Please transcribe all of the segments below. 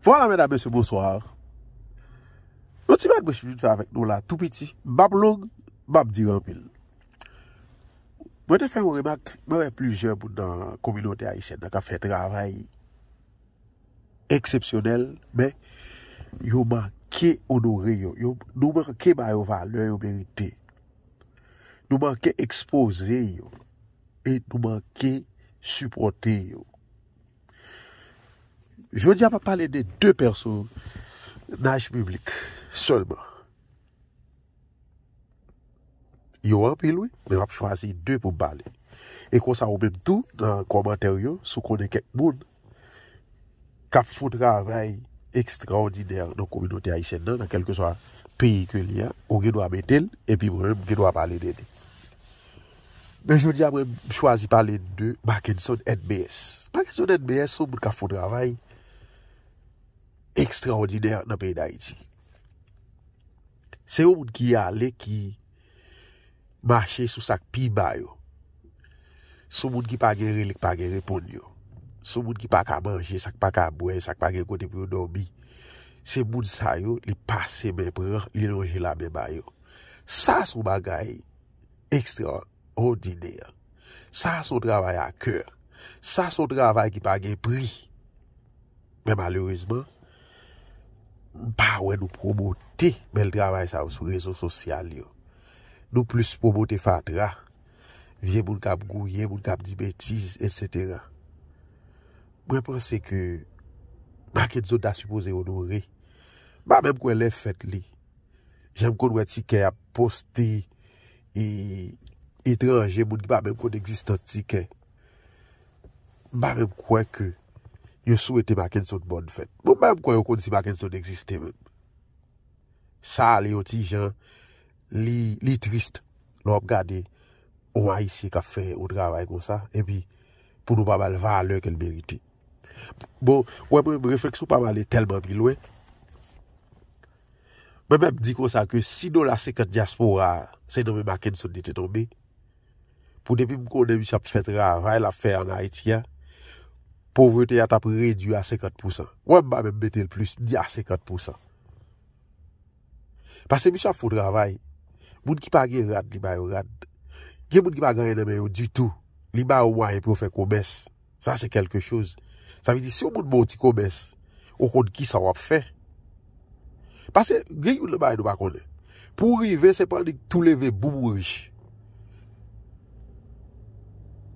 Vwala medam mesye bonsoir. Yon ti bagay mwen vin fè avèk nou la tou piti. Bab long, bab di anpil. Mwen te fè yon remak, mwen wè plizyè moun nan kominote ayisyèn nan kap fè travay eksepsyonèl, men yo manke onore yo. Nou manke ba yo valè yo merite. Nou manke ekspoze yo. e nou manke sipòte yo. Jodi a m ap pale de 2 pèsonaj biblik sèlman. Yo anpil wi, men m ap chwazi 2 pou m pale. E konsa ou menm tou nan kòmantè w yo, si w konnen kèk moun k ap fon travay ekstraòdinè nan kominote ayisyèn nan, nan kèlkeswa peyi ke li a, ou gen dwa mete l, epi mwen menm m gen dwa pale de li. Men jodi a mwen chwazi pale de Mackenson NBS. Mackenson NBS se yon moun k ap fon travay ekstraòdinè nan peyi Dayiti. Se yon moun ki ale ki. mache sou sak pi ba yo, sou moun ki pa gen rele k pa gen reponn yo, sou moun ki pa ka manje, sak pa ka bwè, sak pa gen kote pou yo dòmi, se moun sa yo li pase men pran, li lonje la men ba yo. Sa son bagay ekstra òdinè. Sa son travay a kè. Sa son travay ki pa gen pri. Men malerezman, m pa wè nou pwomote bèl travay sa yo sou rezo sosyal yo. Nou plis pwomote fatra, vye moun kap gouye, moun kap di betiz, etc. Mwen panse ke Makenson ta sipoze onore. M pa menm kwè lè fèt li. Jan m konn wè ti kè ap poste etranje, moun ki pa menm konn egzistans ti kè. M pa menm kwè ke yo swete Mackenson bòn fèt. Mwen pa menm kwè yo konn si Mackenson egziste menm. Sa ale yon ti jan li trist lè w ap gade yon Ayisyen k ap fè yon travay kon sa epi pou nou pa ba l valè ke l merite. Bon, wè mwen menm refleksyon pa m ale tèlman pi lwen. Mwen menm di kon sa ke si dola 50 dyaspora se nan men Mackenson li te tonbe. pou depi m konnen misye ap fè travay lap fè an Ayiti a, povrete a tap redwi a 50 pousan. Wè m pa menm mete l plis, m di a 50 pousan. Pase misye ap fon travay, moun ki pa gen rad li ba yo rad, gen moun ki pa gen anyen nan men yo ditou, li ba yo mwayen pou yo fè komès. Sa se kelke choz. Sa vle di si yon moun ba w ti komès, ou konn ki sa w ap fè. Pase gen yon nan bagay nou pa konnen. Pou w rive se pa annik tou leve boum ou rich.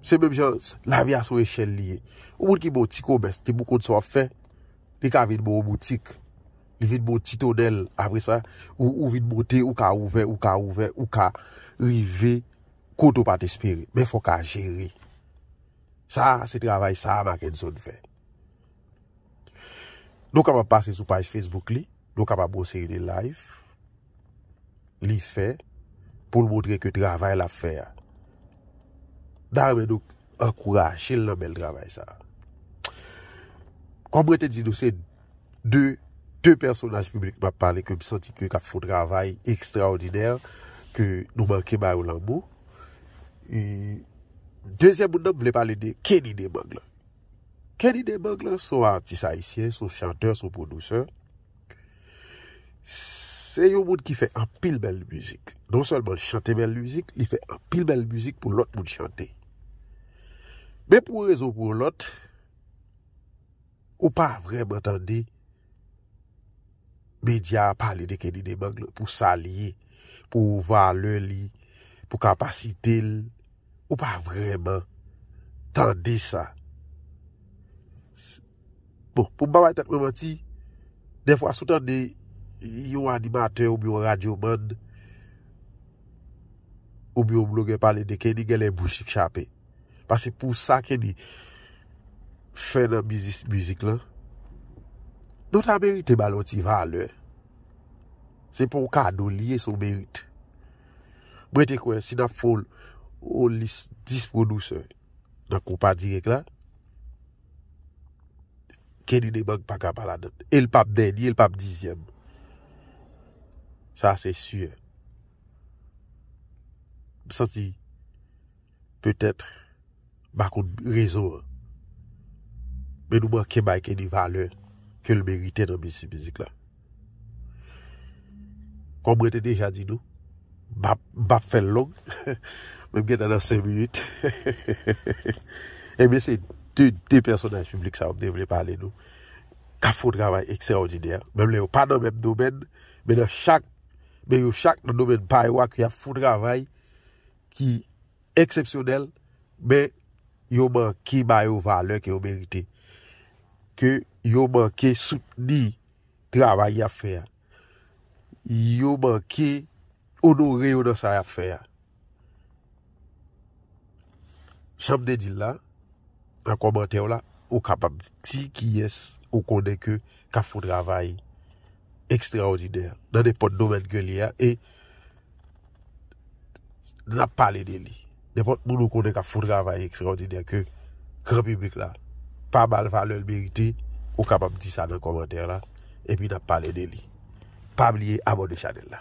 Se menm jan lavi a son echèl li ye. Yon moun ki ba w ti komès, depi ou konn sa w ap fè, li ka vin ba w boutik. Li vin ba w ti tonèl apre sa, ou vin bote, ou ka ouvè, ou ka ouvè, ou ka rive kote ou pa t espere. Men fò w ka jere. Sa a se travay sa a Mackenson fè. Nou kapab pase sou paj Facebook li, nou kapab wè yon seri de live li fè pou l montre ke travay l ap fè a. Da renmen nou ankouraje l nan bèl travay sa a. Kòm mwen te di nou se. de 2 pèsonaj piblik map pale ke m santi ke kap fon travay ekstraòdinè ke nou manke ba yo lanmou. E dezyèm moun nan m vle pale de Kenny Demang lan. Kenny Demang lan son atis ayisyen, son chantè, son pwodusè. Se yon moun ki fè anpil bèl mizik. Non sèlman li chante bèl mizik, li fè anpil bèl mizik pou lòt moun chante. Men pou yon rezon pou yon lòt. Ou pa vreman tande media a pale de Kenny Demang lan pou sa li ye, pou valè li, pou kapasite l. Ou pa vreman tande sa. Bon, pou m pa bay tèt mwen manti, defwa sou tande yon animatè ou byon radyo man, ou byon blogè pale de Kenny, genlè bouch li k chape. Pase pou sa Kenny fè nan biznis mizik lan, nou ta merite ba l yon ti valè. Se pa yon kado li ye, se yon merite. Mwen te kwè si n ap fè yon lis 10 pwodusè nan konpa dirèk la, Kenny Debang pa ka pa ladan l. E l pa p dènye, l pa p dizyèm. Sa se si. M santi. petèt ba kout rezo an men nou manke bay Kenny valè ke l merite nan mesi mizik la kòm mwen te deja di nou m pap fè l long men m gentan nan 5 minit ebyen se 2 pèsonaj piblik sa yo m te vle pale nou k ap fè yon travay ekstraòdinè menm lè yo pa nan menm domèn men yo chak nan domèn pa yo ak yo ap fè yon travay ki eksepsyonèl, men yo manke ba yo valè ke yo merite. Ke yo manke soutni travay y ap fè a. Yo manke onore yo nan sa y ap fè a. Jan m te di l la, nan kòmantè w la, ou kapab di kiyès ou konnen ke ka fon travay ekstraòdinè nan nenpòt domèn ke li a e n ap pale de li. Nenpòt moun ou konnen k ap fon travay ekstraòdinè ke gran piblik la pa ba l valè l merite, ou kapab di sa nan kòmantè la epi n ap pale de li. Pa bliye abòne chanèl la.